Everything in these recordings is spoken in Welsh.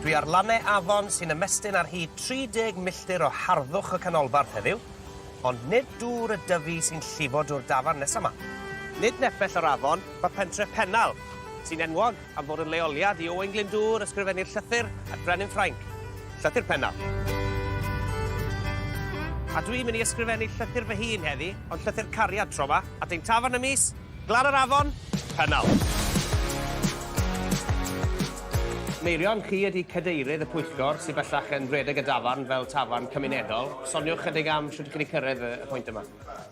Dwi ar lannau afon sy'n ymestyn ar hyd 30 milltir o harddwch y canolbarth heddiw, ond nid dŵr y Dyfi sy'n llifo dwr dafarn nesa 'ma. Nid nepell yr afon, mae pentref Pennal, sy'n enwog am fod yn leoliad i Owain Glyndŵr, ysgrifennydd llythyr at Frenin Ffrainc, Llythyr Pennal. A dwi'n mynd i ysgrifennu llythyr fy hun heddi, ond llythyr cariad tro 'ma, at ein tafarn ym mis Glan yr Afon, Pennal. Meirion, chi ydy cadeirydd y pwyllgor sydd bellach yn rhedeg y dafarn fel tafarn cymunedol. Soniwch chydig am sut y chi wedi cyrraedd y pwynt yma.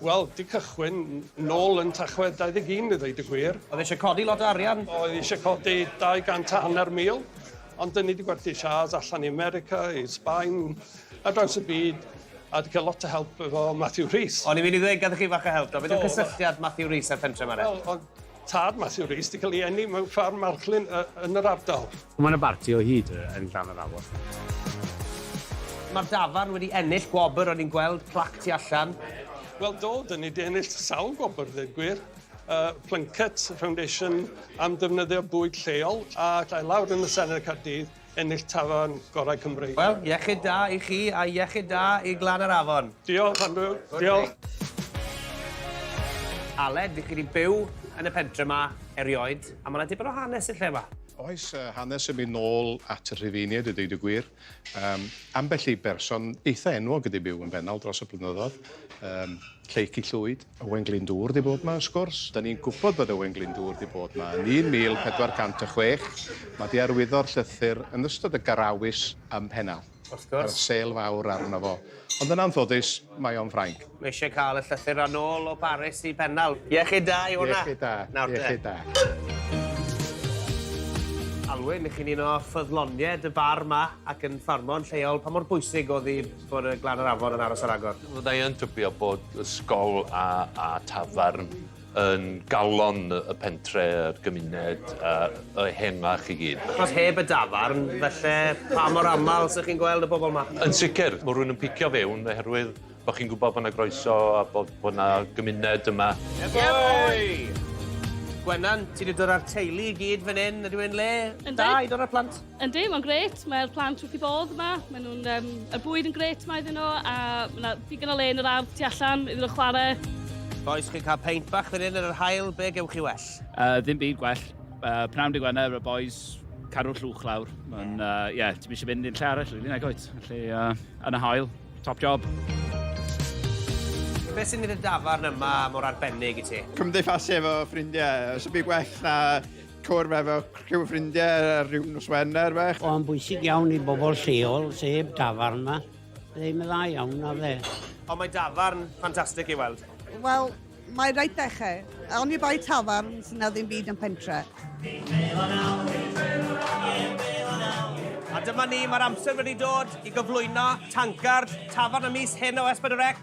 Wel, di cychwyn nôl yn Tachwedd 21 i ddweud y gwir. Oedd e eisiau codi lot o arian? Oedd e eisiau codi 200 a hanner mil, ond dyn ni wedi gwerthu siârs allan i America, i Sbaen, Ar draws y byd, a 'di cael lot o help efo Matthew Rhys. O'n i'n mynd i ddweud, gathon chi fach o help do? Beth yw cysylltiad Matthew Rhys a'r pentre 'ma de? Wel, o'dd tad Matthew Rhys 'di cael ei eni mewn ffarm marchlyn yy yn yr ardal. Mae 'na barti o hyd yn Llanyrhawen. Mae'r dafarn wedi ennill gwobr, o'n i'n gweld plac tu allan. Wel do, 'dyn ni 'di ennill sawl gwobr ddeud gwir. Y Plunket Foundation am defnyddio bwyd lleol a ddaeth lawr yn y Senedd Caerdydd ennill tafarn gorau Cymru. Wel, iechyd da i chi a iechyd da i Glan yr Afon. Diolch, Andrew. Diolch. Aled, dych chi wedi byw yn y pentre yma erioed, a mae yna dipyn o hanes i'r lle yma. Oes, hanes yn mynd nôl at y Rhufeiniaid i ddeud y gwir. Um, ambell i berson eitha enwog wedi byw yn Fennal dros y blynyddoedd, um, Lleic i Llwyd. Owen Glyndŵr 'di bod 'ma wrth gwrs. 'Dan ni'n gwybod bod Owen Glyndŵr 'di bod 'ma yn 1406. Mae 'di arwyddo'r llythyr yn ystod y garawys ym Mhennal. Wrth gwrs. Roedd sêl fawr arno fo. Ond yn anffodus, mae o'n Ffrainc. Mae eisiau cael y llythyr a nôl o Baris i Pennal. Iechyd da i hwnna. Iechyd da. Nawr te. Iechyd da. Alwyn, 'ych chi'n un o ffyddlonied y bar 'ma ac yn ffarmwr lleol, pa mor bwysig o'dd i'r Bod y glan yr afon yn aros ar agor. Fydda i yn tybio bod ysgol a a tafarn yn galon y pentre, yr gymuned a a ehengach i gyd. Achos heb y dafarn falle pa mor amal 'sych chi'n gweld y bobol 'ma? Yn sicir, ma' rywun yn picio fewn oherwydd bo' chi'n gwbod bo' 'na groeso a bo' bo' 'na gymuned yma. Ie boi! Gwenan, ti 'di dod â'r teulu i gyd fan 'yn, ydyw e'n le da i dod â'r plant? Yndi, mae'n gret. Mae'r plant wrth i bodd yma. Mae nhw'n... Um, y bwyd yn gret yma iddyn nhw, a mae yna digon o le yn yr ardd tu allan iddyn nhw chwarae. Boys, chi'n cael peint bach fan hyn yn yr hael, be gewch chi well? Uh, ddim byd gwell. Uh, Pnawn dy Gwener, y boys, cadw'r llwch lawr. Mae'n, ie, uh, yeah, ti'n eisiau mynd i'n lle arall, rili, nag oed. Felly, uh, yn y hael, top job. Beth sy'n mynd y dafarn yma mor arbennig i ti? Cymdeithasu efo ffrindiau. Os ydw i gwell na cwrdd efo criw ffrindiau ar ryw nos Wener fach. O'n bwysig iawn i bobl lleol, sef dafarn yma. Byddai yn dda iawn na fe. Ond mae dafarn ffantastig i weld. Wel, mae rhaid dechrau. Awn ni bai tafarn sy'n na ddim byd yn pentre. A dyma ni, mae'r amser wedi dod i gyflwyno tancard tafarn y mis hyn o Esbyd y Rec.